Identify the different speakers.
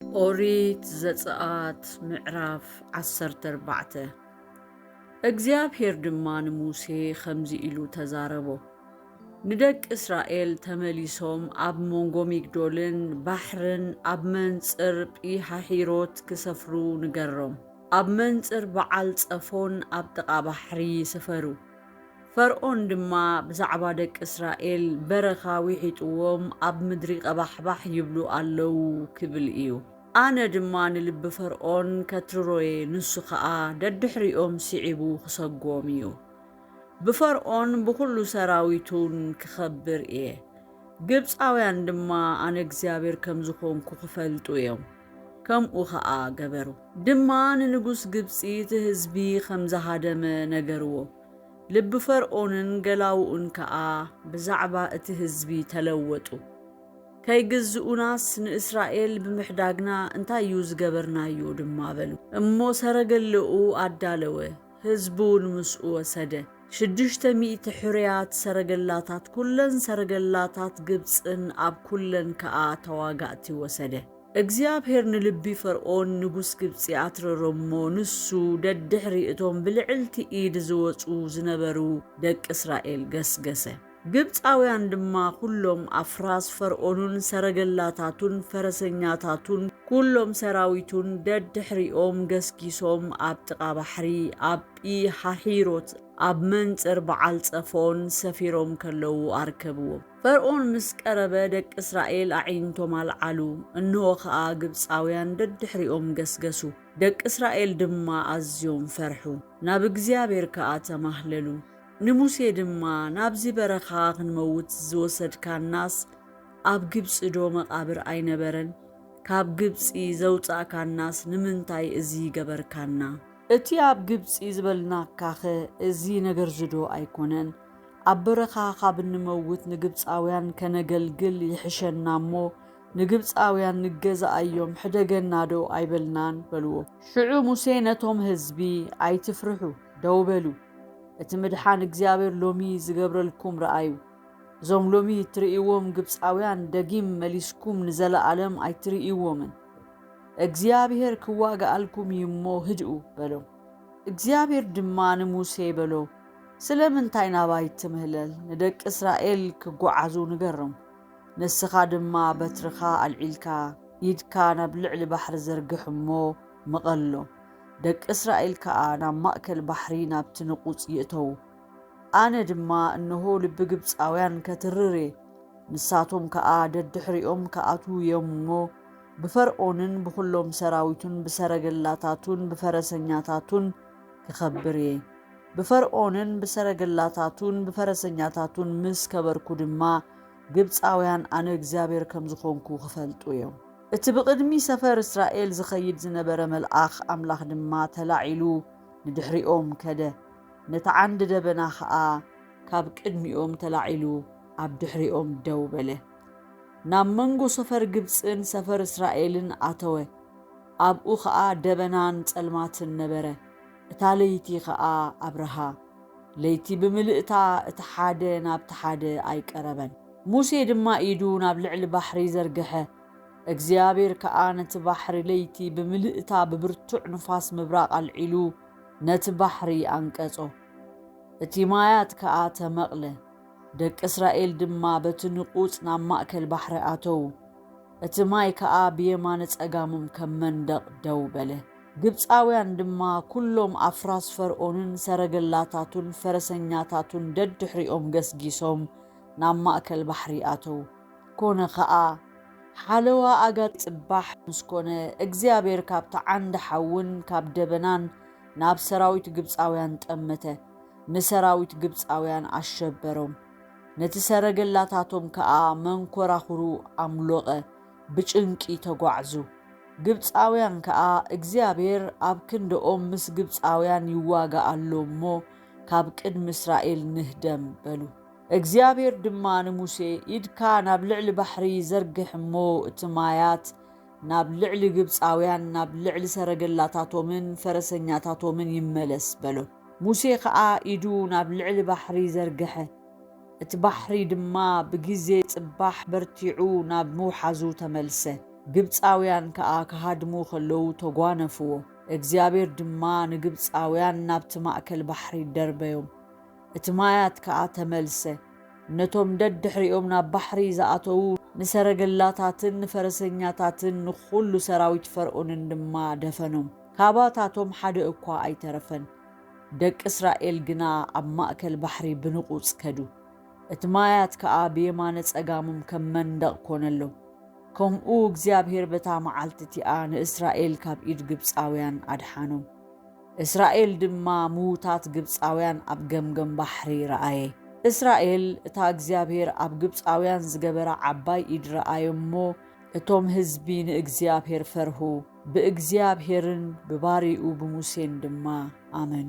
Speaker 1: ኦሪት ዘጽኣት ምዕራፍ ዓሰርተ ኣርባዕተ እግዚኣብሄር ድማ ንሙሴ ኸምዚ ኢሉ ተዛረቦ፣ ንደቂ እስራኤል ተመሊሶም ኣብ መንጎ ሚግዶልን ባሕርን ኣብ መንጽር ጲሃሒሮት ክሰፍሩ ንገሮም፣ ኣብ መንጽር በዓል ጸፎን ኣብ ጥቓ ባሕሪ ስፈሩ። ፈርኦን ድማ ብዛዕባ ደቂ እስራኤል፣ በረኻ ዊሒጥዎም ኣብ ምድሪ ቐባሕባሕ ይብሉ ኣለዉ ኪብል እዩ። ኣነ ድማ ንልቢ ፈርኦን ከትርሮ እየ፣ ንሱ ኸኣ ደድሕሪኦም ስዒቡ ኺሰጎም እዩ። ብፈርኦን ብዅሉ ሰራዊቱን ክኸብር እየ፣ ግብጻውያን ድማ ኣነ እግዚኣብሄር ከም ዝዀንኩ ኺፈልጡ እዮም። ከምኡ ኸኣ ገበሩ። ድማ ንንጉስ ግብጺ እቲ ህዝቢ ኸም ዝሃደመ ነገርዎ። ልቢ ፈርኦንን ገላዉኡን ከኣ ብዛዕባ እቲ ህዝቢ ተለወጡ። ከይግዝኡናስ ንእስራኤል ብምሕዳግና እንታይ እዩ ዝገበርናዮ? ድማ በሉ። እሞ ሰረገለኡ ኣዳለወ፣ ህዝቢውን ምስኡ ወሰደ። ሽዱሽተ ሚእቲ ሕሩያት ሰረገላታት፣ ኵለን ሰረገላታት ግብጽን ኣብ ኵለን ከኣ ተዋጋእቲ ወሰደ። እግዚኣብሄር ንልቢ ፈርኦን ንጉስ ግብጺ ኣትረሮ እሞ፣ ንሱ ደድሕሪ እቶም ብልዕልቲ ኢድ ዝወጹ ዝነበሩ ደቂ እስራኤል ገስገሰ። ግብጻውያን ድማ ኵሎም ኣፍራስ ፈርኦንን ሰረገላታቱን ፈረሰኛታቱን ኵሎም ሰራዊቱን ደድሕሪኦም ገስጊሶም ኣብ ጥቓ ባሕሪ ኣብ ጲሃሒሮት ኣብ መንጽር በዓል ጸፎን ሰፊሮም ከለዉ ኣርከብዎም። ፈርኦን ምስ ቀረበ ደቂ እስራኤል ኣዒንቶም ኣልዓሉ፣ እንሆ ኸኣ ግብጻውያን ደድሕሪኦም ገስገሱ። ደቂ እስራኤል ድማ ኣዝዮም ፈርሑ፣ ናብ እግዚኣብሄር ከኣ ተማህለሉ። ንሙሴ ድማ፣ ናብዚ በረኻ ኽንመውት ዝወሰድካናስ፣ ኣብ ግብጺዶ መቓብር ኣይነበረን? ካብ ግብጺ ዘውጻእካናስ ንምንታይ እዚ ገበርካና? እቲ ኣብ ግብጺ ዝበልናካኸ እዚ ነገርዚዶ ኣይኰነን? ኣብ በረኻ ኻብ እንመውት ንግብፃውያን ከነገልግል ይሕሸና እሞ ንግብፃውያን ንገዛኣዮም ሕደገናዶ ኣይበልናን በልዎ። ሽዑ ሙሴ ነቶም ህዝቢ ኣይትፍርሑ ደው በሉ እቲ ምድሓን እግዚኣብሔር ሎሚ ዝገብረልኩም ርኣዩ እዞም ሎሚ እትርእይዎም ግብፃውያን ደጊም መሊስኩም ንዘለኣለም ኣይትርእይዎምን እግዚኣብሔር ክዋጋኣልኩም እዩ እሞ ህድኡ በሎም እግዚኣብሔር ድማ ንሙሴ በሎ ስለምንታይ ናባይ ትምህለል ንደቂ እስራኤል ክጎዓዙ ንገርም ንስኻ ድማ በትርኻ ኣልዒልካ ኢድካ ናብ ልዕሊ ባሕሪ ዘርግሕ እሞ ምቐሎ ደቂ እስራኤል ከኣ ናብ ማእከል ባሕሪ ናብቲ ንቑጽ ይእተዉ ኣነ ድማ እንሆ ልቢ ግብጻውያን ከትርር እየ ንሳቶም ከኣ ደድሕሪኦም ክኣትዉ እዮም እሞ ብፈርኦንን ብዅሎም ሰራዊቱን ብሰረገላታቱን ብፈረሰኛታቱን ክኸብር እየ። ብፈርኦንን ብሰረገላታቱን ብፈረሰኛታቱን ምስ ከበርኩ ድማ፣ ግብጻውያን ኣነ እግዚኣብሄር ከም ዝዀንኩ ኺፈልጡ እዮም። እቲ ብቕድሚ ሰፈር እስራኤል ዚኸይድ ዝነበረ መልኣኽ ኣምላኽ ድማ ተላዒሉ ንድሕሪኦም ከደ፣ ነቲ ዓንዲ ደበና ኸኣ ካብ ቅድሚኦም ተላዒሉ ኣብ ድሕሪኦም ደው በለ። ናብ መንጎ ሰፈር ግብጽን ሰፈር እስራኤልን ኣተወ። ኣብኡ ኸኣ ደበናን ጸልማትን ነበረ፣ እታ ለይቲ ኸኣ ኣብርሃ። ለይቲ ብምልእታ እቲ ሓደ ናብቲ ሓደ ኣይቀረበን። ሙሴ ድማ ኢዱ ናብ ልዕሊ ባሕሪ ዘርግሐ፣ እግዚኣብሄር ከኣ ነቲ ባሕሪ ለይቲ ብምልእታ ብብርቱዕ ንፋስ ምብራቕ ኣልዒሉ ነቲ ባሕሪ ኣንቀጾ። እቲ ማያት ከኣ ተመቕለ፣ ደቂ እስራኤል ድማ በቲ ንቑጽ ናብ ማእከል ባሕሪ ኣተዉ። እቲ ማይ ከኣ ብየማነ ጸጋሞም ከም መንደቕ ደው በለ። ግብጻውያን ድማ ኵሎም ኣፍራስ ፈርኦንን ሰረገላታቱን ፈረሰኛታቱን ደድሕሪኦም ገስጊሶም ናብ ማእከል ባሕሪ ኣተዉ። ኰነ ኸኣ፣ ሓለዋ ኣጋጣሚ ጽባሕ ምስ ኰነ፣ እግዚኣብሄር ካብቲ ዓንዲ ሓውን ካብ ደበናን ናብ ሰራዊት ግብጻውያን ጠመተ፣ ንሰራዊት ግብጻውያን ኣሸበሮም። ነቲ ሰረገላታቶም ከኣ መንኰራዅሩ ኣምሎቐ፣ ብጭንቂ ተጓዕዙ። ግብጻውያን ከኣ እግዚኣብሔር ኣብ ክንድኦም ምስ ግብጻውያን ይዋጋእ ኣሎ እሞ፣ ካብ ቅድሚ እስራኤል ንህደም፣ በሉ። እግዚኣብሔር ድማ ንሙሴ፣ ኢድካ ናብ ልዕሊ ባሕሪ ዘርግሕ እሞ፣ እቲ ማያት ናብ ልዕሊ ግብጻውያን፣ ናብ ልዕሊ ሰረገላታቶምን ፈረሰኛታቶምን ይመለስ፣ በሎ። ሙሴ ኸኣ ኢዱ ናብ ልዕሊ ባሕሪ ዘርግሐ፣ እቲ ባሕሪ ድማ ብጊዜ ጽባሕ በርቲዑ ናብ ምውሓዙ ተመልሰ፣ ግብጻውያን ከኣ ክሃድሙ ኸለዉ ተጓነፍዎ፣ እግዚኣብሄር ድማ ንግብጻውያን ናብቲ ማእከል ባሕሪ ደርበዮም፣ እቲ ማያት ከኣ ተመልሰ፣ ነቶም ደድሕሪኦም ናብ ባሕሪ ዝኣተዉ ንሰረገላታትን ንፈረሰኛታትን ንዅሉ ሰራዊት ፈርኦንን ድማ ደፈኖም። ካባታቶም ሓደ እኳ ኣይተረፈን። ደቂ እስራኤል ግና ኣብ ማእከል ባሕሪ ብንቑጽ ከዱ፣ እቲ ማያት ከኣ ብየማነ ጸጋሞም ከም መንደቕ ኰነሎም። ከምኡ እግዚኣብሄር በታ መዓልቲ እቲኣ ንእስራኤል ካብ ኢድ ግብጻውያን ኣድሓኖም። እስራኤል ድማ ምዉታት ግብጻውያን ኣብ ገምገም ባሕሪ ረኣየ። እስራኤል እታ እግዚኣብሄር ኣብ ግብጻውያን ዝገበራ ዓባይ ኢድ ረኣየ እሞ፣ እቶም ህዝቢ ንእግዚኣብሄር ፈርሁ። ብእግዚኣብሄርን ብባሪኡ ብሙሴን ድማ ኣመኑ።